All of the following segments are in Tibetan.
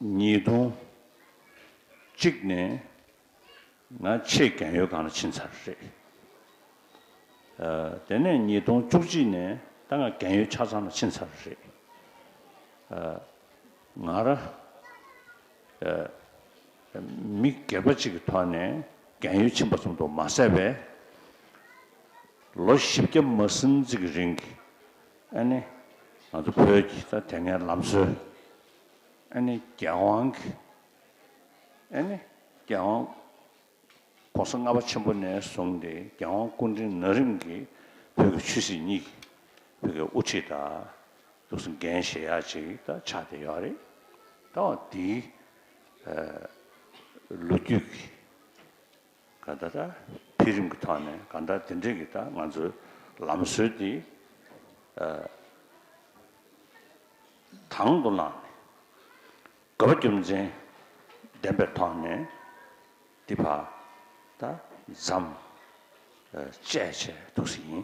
ཉིས་སྟོང་གཅིག་ནས་ང་ཆེས་རྒན་ཡོལ་ཁང་ལ་ཕྱིན་ཚར་རེད། དེ་ནས་ཉིས་སྟོང་བཅུ་གཅིག་ནས་ད་ང་རྒན་ཡོལ་ཆ་ཚང་ལ་ཕྱིན་ཚར་རེད། ང་རང་མི་སྒེར་པ་ཅིག་གི་ཐོག་ནས་རྒན་ཡོལ་ཕྱིན་པ་ཙམ་དུ་མ་ཟད་པས། ལོ་བཞི་བརྒྱ་མ་ཟིན་ཙིག་གི་རིང་གི་ཨ་ནེ་ང་ཚོ་བོད་ཀྱི་ད་དེ་སྔའི་ལམ་སྲོལ་ཨ་ནི་རྒྱལ་དབང་གིས་ཨ་ནི་རྒྱལ་དབང་གོང་ས་ལྔ་པ་ཆེན་པོ་ནས་བཟུང་སྟེ་རྒྱལ་དབང་སྐུ་ཕྲེང་ན་རིམ་གྱིས་བོད་ཀྱི་ཆོས་སྲིད་གཉིས་ཀྱི་བོད་ཀྱི་དབུ་ཁྲིད་དང་ལུགས་སྲོལ་འགན་བཞེས་ཡག་ཅིག་དང་ཆགས་བསྡད་ཡོད་རེད། ད་འོ་དེའི་ལོ་རྒྱུས་ཀྱི། ག་ད་ལྟ་འཕེལ་རིམ་གྱི་ཐོག་ནས་གང་ལྟར་དེ་འབྲེལ་གྱི་ད་ང་ཚོའི་ལམ་སྲོལ་དེ་དང་དུ་བླངས་ནས་དགོས་པ་རྒྱུ་མཚན་ལྡན་པའི་ཐོག་ནས་འདི་བར་ད་ཛམ་བཅས་བྱས་འདུག་ཟིན།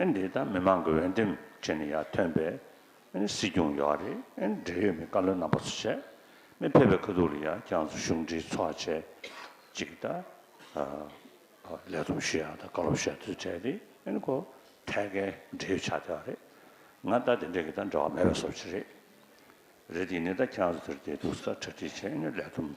ཨེ་འདི་ད་མི་མང་གི་འོས་འདེམས་བྱེད་ནས་ཡར་ཐོན་པའི་ཨེ་སྲིད་སྐྱོང་ཡོད་རེད་ཨེ་འབྲེལ་ཡོད་མི་བཀའ་བློན་རྣམ་པ་ཚོ་བྱས་མི་ཕེབས་པའི་ཁ་ཐུག་ལ་ཡར་རྒྱང་ཚོ་གཞུང་འབྲེལ་ཚོགས་བྱས་གཅིག་ད་ལས་བསྡོམས་ཞུ་ཡག་ད་བཀའ་སློབ་བཤད་དུ་བྲལ་རེད་ཨེ་ནི་ཁོ་ཐད་ཀའི་འབྲེལ་ཡོད་ཆགས་བསྡད་པ་རེད་ང་ད་དེ་འདྲས་ཀྱི་ད་འབྲེལ་བ་མེད་པའི་སོ་བྱེད་རེད་རེད་དེ་ནི་ད་ཁྱེད་རང་ཚོ་དེར་བསྡད་འདུག་ས་གྲ་སྒྲིག་བྱས་ཨེ་ནི་ལས་བསྡོམས་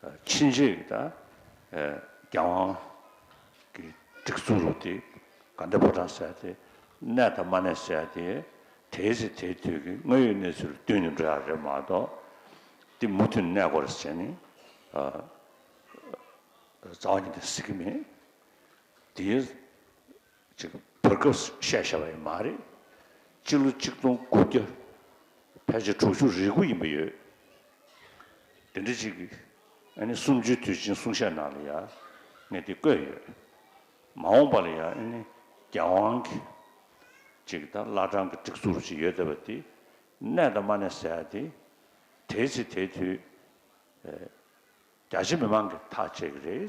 ཕྱིན་ཆད་ཀྱི་དང། རྒྱལ་དབང། གི་སྒྲིག་འཛུགས་རུ་དེ་ག་འདྲ་པོ་དྲག་ཟེར་དེ། གནས་དང་མ་གནས་ཟེར་དེ། དེའི་ཚེ་དེའི་དུས་ཀྱི་དངོས་ཡོད་གནས་ཚུལ་བསྟུན་ནས་འགྲོ་ཡ་རེད་མ་གཏོགས། འདི་མུ་མཐུད་གནས་དགོས་རེད་ཟེར་ནས། རྫ་བ་ཉིད་དང་ཟེར་གྱི་མེད། དེའི། ཅིག་བོད་སྐབས་སུ་བཤད་བཞག་པ་ཡིན་མ་རེད། སྤྱི་ལོ་གཅིག་སྟོང་དགུ་བརྒྱ་ཕལ་ཆེར་དྲུག་ཅུ་རེ་དགུ་ཡིན་པ་ཡོད། དེ་འདྲ་ཅིག་གིས་ཨ་ནི་སུམ་ཅུའི་དུས་ཆེན་གསུང་བཤད་ནང་ལ་ཡང་གནད་དེ་བཀོད་ཡོད། མ་འོངས་པ་ལ་ཡང་ཨ་ནི་རྒྱལ་དབང་གིས་ཅིག་དང་བླ་བྲང་གི་སྒྲིག་འཛུགས་རུ་ཅིག་ཡོད་བསྡད་པ་དེ་གནས་དང་མ་གནས་ཟེར་ཡག་དེ། དེའི་ཚེ་དེའི་དུས། རྒྱ་ཆེ་མི་མང་གི་ཐག་བཅད་གི་རེད།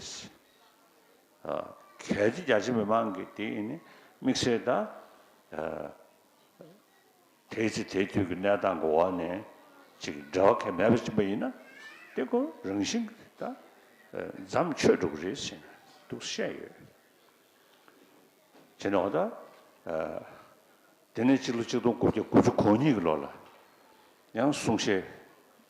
གལ་ཏེ་རྒྱ་ཆེ་མི་མང་གི་དེ་ནི་དམིགས་བསལ་དང། དེའི་ཚེ་དེའི་དུས་ཀྱི་གནས་སྟངས་ཀྱི་འོག་ནས་ཅིག་འབྲེལ་བ་གལ་མེད་པ་བྱིན་པ་ཡིན་ན། དེ་ཁོ་རང་བཞིན་གྱི་དང། འཇམ་ཆོས་འགྲོ་གི་རེད་ཟེར་འདུག་བཤད་ཡོད། བྱས་ན་འོ་ད། དེ་ནས་གཅིག་ལོ་གཅིག་སྟོང་དགུ་བརྒྱ་དགུ་བཅུ་གོ་གཉིས་ཀྱི་ལོ་ལ། ཡང་གསུང་བཤད་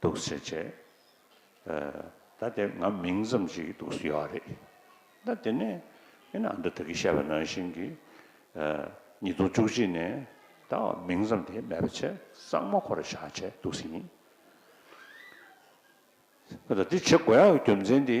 འདུག་ཟེར་བྱས། ད་དེ་ང་མིང་ཙམ་ཞིག་གིས་འདུག་ཟེར་ཡོད་རེད། ད་དེ་ནས་ཨེ་ན་འདི་དེ་གིས་བཤད་པ་ནང་བཞིན་གྱིས། ཉིས་སྟོང་བཅུ་གཅིག་ནས་ད་བར་མིང་ཙམ་དེ་མེད་པ་བྱས་གཙང་མ་ཁོ་ར་བཞག་བྱས་འདུག་ཟེར་ཡིན། ཨོ་ད་དེ་བྱེད་དགོས་ཡ་གི་རྒྱུ་མཚན་དེ།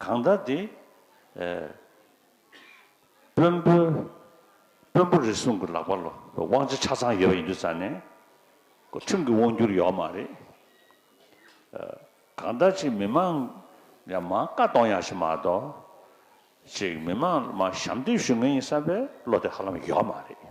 གང་དག་འདི། དཔོན་པོ། དཔོན་པོ་རེ་ཟུང་གི་ལག་པ་ལོ། དབང་ཆ་ཆ་ཚང་ཡོད་པ་ཡིན་དུས་ཙང་ནས། ཁྲིམས་ཀྱི་དབང་བསྒྱུར་ཡོད་མ་རེད། གང་དག་ཅིག་མི་མང། ཡང་མང་བཀའ་གཏོང་ཡག་ཞིག་མ་གཏོགས། ཅིག་མི་མང། ཞབས་འདེབས་ཞུ་མཁན་ཡིན་བསམ་པའི་བློ་དེ་ཧ་ལམ་ཡོད་མ་རེད།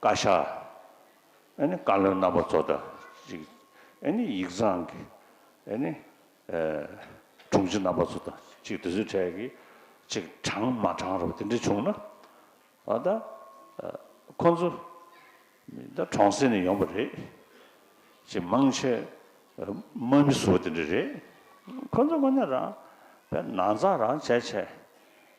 བཀའ་ཤག། ཨེ་ནི་བཀའ་བློན་རྣམ་པ་ཚོ་དང་གཅིག། ཨེ་ནི་ཡིག་ཚང་གི། ཨེ་ནི། དྲུང་ཆེ་རྣམ་པ་ཚོ་དང་གཅིག་དེ་ཚོའི་གྲས་ཀྱི། གཅིག་དྲང་མ་དྲང་རུ་དེ་འདྲས་བྱུང་ན། ཨ་ད། ཁོང་ཚོ། མི་ད་གྲོང་གསེབ་ནས་ཡོང་བ་རེད། གཅིག་མང་ཆེ། དམའ་མི་བཟོ་བ་དེ་འདྲས་རེད། ཁོང་ཚོ་དངོས་གནས་རང། པའི་ན་ཚ་རང་བྱས་བྱས།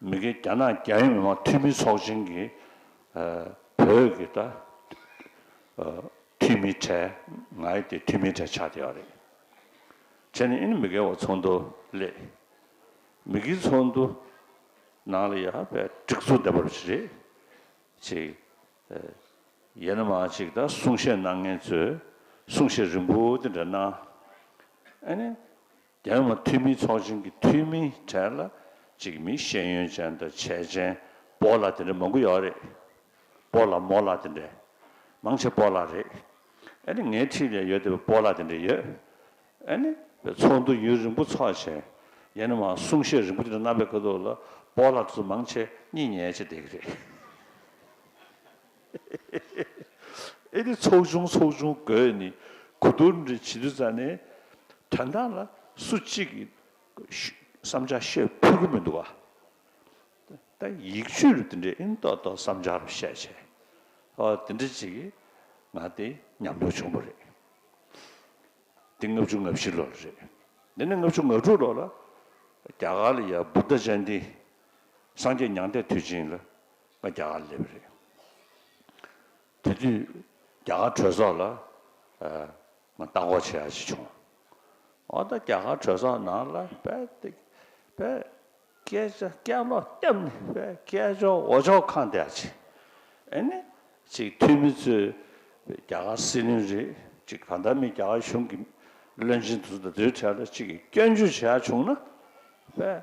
མི་སྒེར་རྒྱ་ནག་རྒྱ་ཡིག་མི་མང་འཐུས་མི་ཚོགས་ཆེན་གྱི་བོད་ཀྱི་འཐུས་མི་གྲས་ང་ཡི་དེ་འཐུས་མི་གྲས་ཆགས་བསྡད་པ་རེད། བྱས་ནས་ཨིན་མི་སྒེར་བར་ཚོགས་འདུ་སླེབས། མི་སྒེར་ཚོགས་འདུ་ནང་ལ་ཡ་བའི་སྒྲིག་འཛུགས་འདེམས་པར་བྱེད་རེས་ཅིག་ཡེ་ན་མ་ཅིག་ད་གསུང་བཤད་གནང་མཁན་ཚོས་གསུང་བཤད་རིང་པོ་དེ་འདྲ་གནང། ཨ་ནི། རྒྱལ་དམངས་འཐུས་མི་ཚོགས་ཆེན་གྱི་འཐུས་མི་གྲས་ལ་གཅིག་མི་ཤེས་ཡོན་ཅན་དང་བྱས་ཅན་པོ་ལ་དེ་འདྲ་མང་པོ་ཡོད་རེད། པོ་ལ་མོ་ལ་དེ་འདྲ་མང་ཆེ་པོ་ལ་རེད། ཨ་ནི་ངའི་འཁྲིས་ལས་ཡོད་དེ་པོ་ལ་དེ་འདྲ་ཡོད། ཨ་ནི་བའི་ཚོགས་འདུ་ཡུན་རིང་པོ་ཚོགས་ཆེན་ཡན་ནས་མ་གསུང་བཤད་རིང་པོ་དེ་འདྲ་གནང་པའི་ཁ་ཐུག་ལ་པོ་ལ་དེ་ཚོ་མང་ཆེ་གཉིས་ཉལ་ཆེ་བསྡད་ཀྱི་རེད། ཨེ་དེ་ཚོགས་ཆུང་ཚོགས་ཆུང་དགོས་ནི་གོ་བསྡུར་འདི་བྱེད་དུས་ཙཱ་ནས་དྲ་མདངས་ལ་སུ་གཅིག་གིས་བསམ་འཆར་བཤད་ཕོད་ཀྱི་མི་འདུག་བ། ད་ཡིག་ཆུས་རུ་དེ་འདྲའི་ཨིན་ཏོག་ཏོག་བསམ་འཆར་བཤད་བྱས་ཨོ་དེ་འདྲ་ཅིག་གིས་ང་དེ་ཉམས་མྱོང་བྱུང་བ་རེད། དེ་ལྔ་བཅུ་ང་བཞི་ལོ་ལ་རེད། འདི་ནི་ལྔ་བཅུ་ང་དྲུག་ལོ་ལ་རྒྱ་གར་ལ་ཡ་བུདྡྷ་ཅན་དེས་སངས་རྒྱས་མྱང་འདས་དུས་ཆེན་ལ་ང་རྒྱ་གར་སླེབས་རེད། དེ་དུས་རྒྱ་གར་གྲོས་ཚོགས་ལ་ང་བལྟ་འགོག་བྱས་ཡག་ཅིག་བྱུང། ཨོ་ད་རྒྱ་གར་གྲོས་ཚོགས་ནང་ལ་བལྟ་དེ་བལྟ་སྐད་ཆ་སྐད་ལོག་བཏབ་ནི་བལྟ་སྐད་ཅོག་འོ་ཅོག་གང་བལྟ་ཡག་ཅིག་ཨེ་ནི་ཅིག་འཐུས་མི་ཚོས་རྒྱ་གར་སྲིད་བློན་རེད་ཅིག་གང་ལྟར་མི་རྒྱ་གར་གཞུང་གི་བློན་ཆེན་དུ་ད་དུས་ཐད་ལ་ཅིག་གིས་སྐྱོན་བརྗོད་བྱས་ཡག་བྱུང་ན་བལྟ།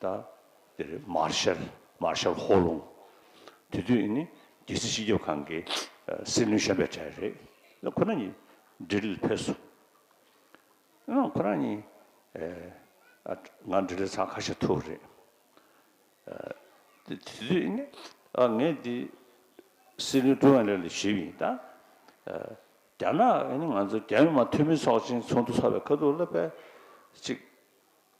ད་འདིར་མཱར་ཤལ། Marshall Ho། ལུང། དེ་དུས་ནི་རྒྱལ་སྲིད་སྤྱི་ཁྱབ་ཁང་གི་སྲིད་བློན་གཞོན་པའི་གྲས་རེད། ལ་ཁོ་རང་གཉིས་འབྲི་ལ་ཕེབས་སོང། ཡང་ཁོ་རང་གཉིས་ང་འབྲི་ལ་ཚང་ཁ་ཤས་ཐུག་རེད། དེ་དུས་ནི་ངས་འདི་སྲིད་བློན་ཀྲུའུ་ཨན་ལེ་ལ་ཞུས་ཡིན། ད་རྒྱ་ནག་ནི་ང་ཚོ་རྒྱ་མི་དམངས་འཐུས་མི་ཚོགས་ཆེན་ཚོགས་འདུ་ཚོགས་པའི་ཁ་ཐུག་ལ་ཕེབས་ཅིག་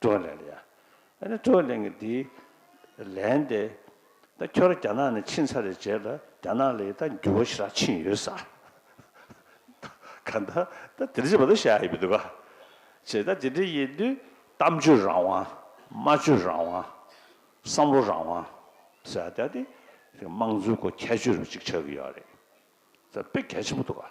ཀྲོའུ་ལེན་ལ་ཡར། ཨ་རི་ཀྲོའུ་ལེན་གྱིས་དེའི་ལན་དེ། ད་ཁྱོད་རང་རྒྱ་ནག་ནས་ཕྱིན་ཚར་རེད་བྱས་ལ་རྒྱ་ནག་ལ་ཡི་ད་འགྱུར་བ་ཞིག་རག་ཕྱིན་ཡོད་ས། ག་ད་ད་དེ་རྗེས་མ་ཏོག་བཤད་ཡ་ཡོད་འདུག་ག། བྱས་ད་དེ་འདྲ་ཡིན་དུས་གཏམ་བརྗོད་རང་དབང། སྨྲ་བརྗོད་རང་དབང། བསམ་བློ་རང་དབང། ཟེར་ཡ་དེ་དེ་དམངས་གཙོའི་སྐོར་ཁྱད་ཆོས་རུ་ཅིག་ཆགས་ཀྱི་ཡོད་རེད། ད་དཔེ་གལ་ཆེན་པོ་འདུག་ག།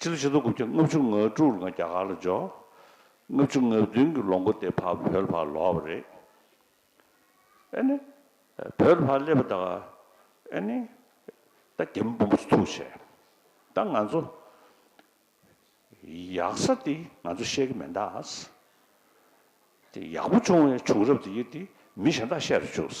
ཕྱི་ལོ་ཆིག་སྟོང་དགུ་བརྒྱ་ལྔ་བཅུ་ང་དྲུག་ལ་ང་རྒྱ་གར་ལ་འབྱོར། ལྔ་བཅུ་ང་བདུན་གྱི་ལོ་མགོ་སྟེ་བར་བོད་ལ་ཕར་ལོག་པ་རེད། ཨེ་ནི། བོད་ལ་ཕར་སླེབས་པ་དང། ཨེ་ནི། ད་རྒྱ་མི་བུ་མོ་ཚོ་ཐུགས་ཆེ། ད་ང་ཚོ། ཡག་ས་དེ་ང་ཚོ་ཤེས་ཀྱི་མེད་ད། དེ་ཡག་པོ་བྱུང་བའི་བྱུང་རབས་དེ་ཡིན་དེ་མི་གཞན་དག་བཤད་དུ་བཅུགས།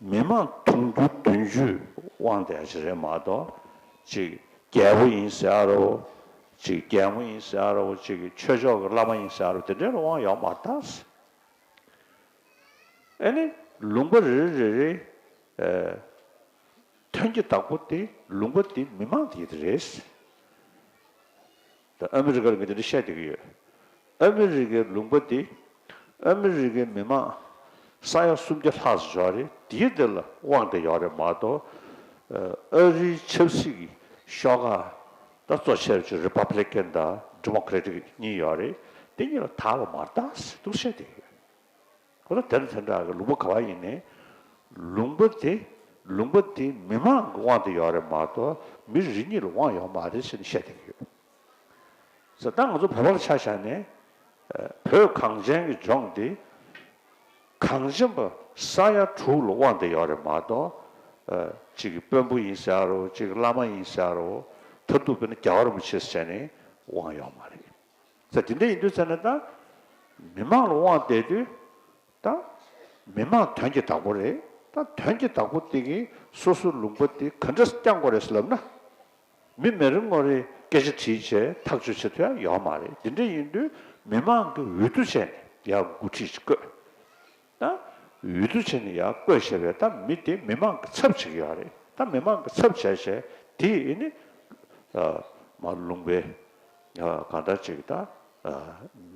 མི་མང་དུང་ཕྱུར་བདུན་བཅུས་དབང་སྟེ་ཨ་ཆི་རེ་མ་ཏོ། ཅིག་རྒྱལ་པོ་ཡིན་ཟེར་ཨ་རོ། ཅིག་རྒྱལ་མོ་ཡིན་ཟེར་ཨ་རོ། ཅིག་ཆོས་མཆོག་གི་བླ་མ་ཡིན་ཟེར་ཨ་རོ་དེ་འདྲའི་རུ་དབང་ཡོག་མར་དར། ཨེ་ནི་ལུང་པ་རེ་རེ་རེ་རེའི་དོན་གྱི་བདག་པོ་དེ་ལུང་པ་དེ་མི་མང་དེ་རེད། ད་ཨ་མི་རི་ཀར་ངས་དེ་འདྲ་བཤད་བསྡད་ཀྱི་ཡོད། ཨ་མི་རི་ཀའི་ལུང་པ་འདི། ཨ་མི་རི་ཀའི་མི་མང། ས་ཡ་སུམ་བརྒྱ་ལྷག་སུ་ཞོག་རེད་དེའི་འདི་ལ་དབང་བསྡད་ཡོག་རེད་མ་གཏོགས། ཨ་རིའི་ཆབ་སྲིད་ཀྱི་ཤོག་ཁག་ད་གཙོ་ཆེར་བྱེད་རི་པ་པི་ལེ་ཀན་དང་རི་མོ་ཀི་རེ་ཏིག་གཉིས་ཡོག་རེད་དེ་གཉིས་ལ་དྭགས་ལ་མར་དྭགས་ཟེར་འདུག་བཤད་བསྡད་ཡོད། ཁོ་ལ་དེར་མཚོན་ཁྲག་གི་ལུང་པ་ག་བ་ཡིན་ནས། ལུང་པ་དེ། ལུང་པ་དེ་མི་མང་གི་དབང་དུ་ཡོད་རེད་མ་གཏོགས་མི་རེ་གཉིས་ལ་དབང་ཡོད་མ་རེད་ཟེར་ནས་བཤད་བསྡད་ཀྱི་ཡོད། ཟེར་ད་ང་ཚོ་བོད་པར་ཆ་བཞག་ནས། བོད་གངས་ཅན་གྱི་ལྗོངས་འདི། གངས་ཅན་པ་ས་ཡ་དྲུག་ལ་དབང་དུ་ཡོད་རེད་མ་གཏོགས། གཅིག་གིས་དཔོན་པོ་ཡིན་ཟེར་རོ་གཅིག་གིས་བླ་མ་ཡིན་ཟེར་རོ། མཐར་ཐུག་དཔེར་ན་རྒྱ་གར་མི་ཆེ་ཟེར་ནས་དབང་ཡོད་མ་རེད། ཚེ་དེ་འདྲ་ཡིན་དུས་ཚེ་ན་ད། མི་མང་ལ་དབང་བསྡད་དུས་ད། མི་མང་དོན་གྱི་བདག་པོ་རེད་ད་དོན་གྱི་བདག་པོ་དེ་གིས་སོ་སོའི་ལུང་པ་དེ་ག་འདྲ་བསྐྱང་དགོས་རེད་ལབ་ན། མི་མེ་རི་ངོ་རེས་སྐད་ཆ་དྲིས་བྱས་ཐག་གཅོད་བྱེད་ཐུ་ཡང་ཡོད་མ་རེད་དེ་འདྲ་ཡིན་དུས་མི་མང་གི་འོས་བསྡུ་བྱས་ནས་ཡང་འགོ་ཁྲིད་བཀོད། དང། འོས་བསྡུ་བྱས་ནས་ཡར་བསྐོས་བྱས་པས་ད་མི་དེ་མི་མང་གི་ཚབ་བྱེད་ཀྱི་ཡོད་རེད་ད་མི་མང་གི་ཚབ་བྱས་བྱས་དེ་ནི། མ་ལུང་པའི། གང་ལྟར་བྱས་ཀྱི་ད།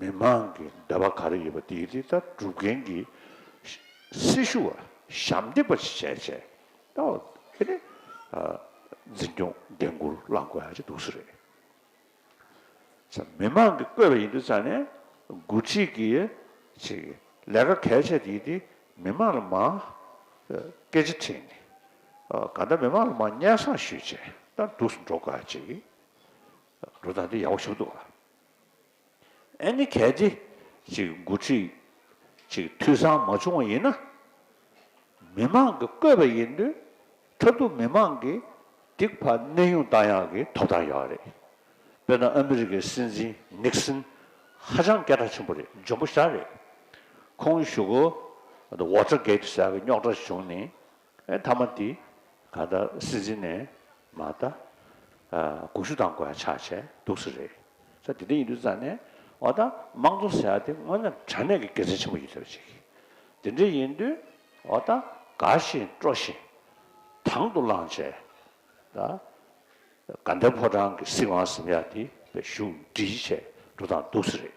མི་མང་གི་འདོད་པ་ག་རེ་ཡོད་པ་དེ་དེ་ད་སྒྲུབ་མཁན་གྱི། སྲི་ཞུ་བ་ཞབས་འདེགས་པ་ཞིག་བྱས་བྱས་ད། འཛིན་སྐྱོང་འགན་འཁུར་བླང་དགོས་ཡག་ཅིག་འདུག་སུ་རེད། མི་མང་གིས་བསྐོས་པ་ཡིན་འདུག་ས་གནས་འགོ་ཁྲིད་ཀྱིས་ལས་ཀ་གལ་ཆེ་དེ་དེ་མི་མང་ལ་མ་སྐད་ཆ་དྲིས་ནས་གང་ལྟར་མི་མང་ལ་མ་སྙན་བསངས་ཞུས་རྗེས་ཏར་འདུག་སུ་འགྲོ་དགའ་ཅིག་འགྲོ་ད་འདི་ཡག་པོ་ཞུགས་འདུག་ལ་ཨེ་ནི་གལ་ཏེ་འགོ་ཁྲིད་འཐུས་ཚང་མ་བྱུང་བ་ཡིན་ན་མི་མང་གིས་བསྐོས་པ་ཡིན་འདུག་ཁྲབ་ཏུ་མི་མང་གི་སྡིག་པ་གནས་དབྱུང་བཏང་ཡག་གི་ཐོབ་ཐང་ཡོད་རེད་དཔེར་ན་ཨ་མི་རི་ཀའི་སྲིད་འཛིན་ནིག་སིན་ཧ་ཅང་སྐད་གྲགས་ཆེན་པོ་རེད་འཇོན་པོ་ཤ་རེད་ཁོང་བཞུགས་གོ་བོ་ཏྲ་གེད་ཟེར་བའི་རྙོག་ཏྲ་བྱུང་ནི་མཐའ་མ་དེ་ག་ད་སྲིད་འཛིན་ནས་མ་ད་དགུག་ཤུ་དང་གོད་ཆག་བྱས་འདུག་ཟེར་རེད་ས་དེ་འདྲ་ཡིན་དུས་རྩ་ནས་འོ་ད་དམངས་གཙོ་ཟེར་བ་དེ་དངོས་ནས་དྲ་གནས་ཀྱི་དགེ་མཚན་ཆེན་པོ་ཡོད་ཚོད་ཅིག་དེ་འདྲ་ཡིན་དུས། འོ་ད་དགའ་བཞིན་སྤྲོ་བཞིན་དང་དུ་བླངས་བྱས། དགའ་ལྡན་ཕོ་བྲང་གི་སྲིད་དབང་གཟིམ་ཡག་འདི་བཞུགས་འབྲི་བྱས་འགྲོ་དང་འདུག་སྲིད་རེད།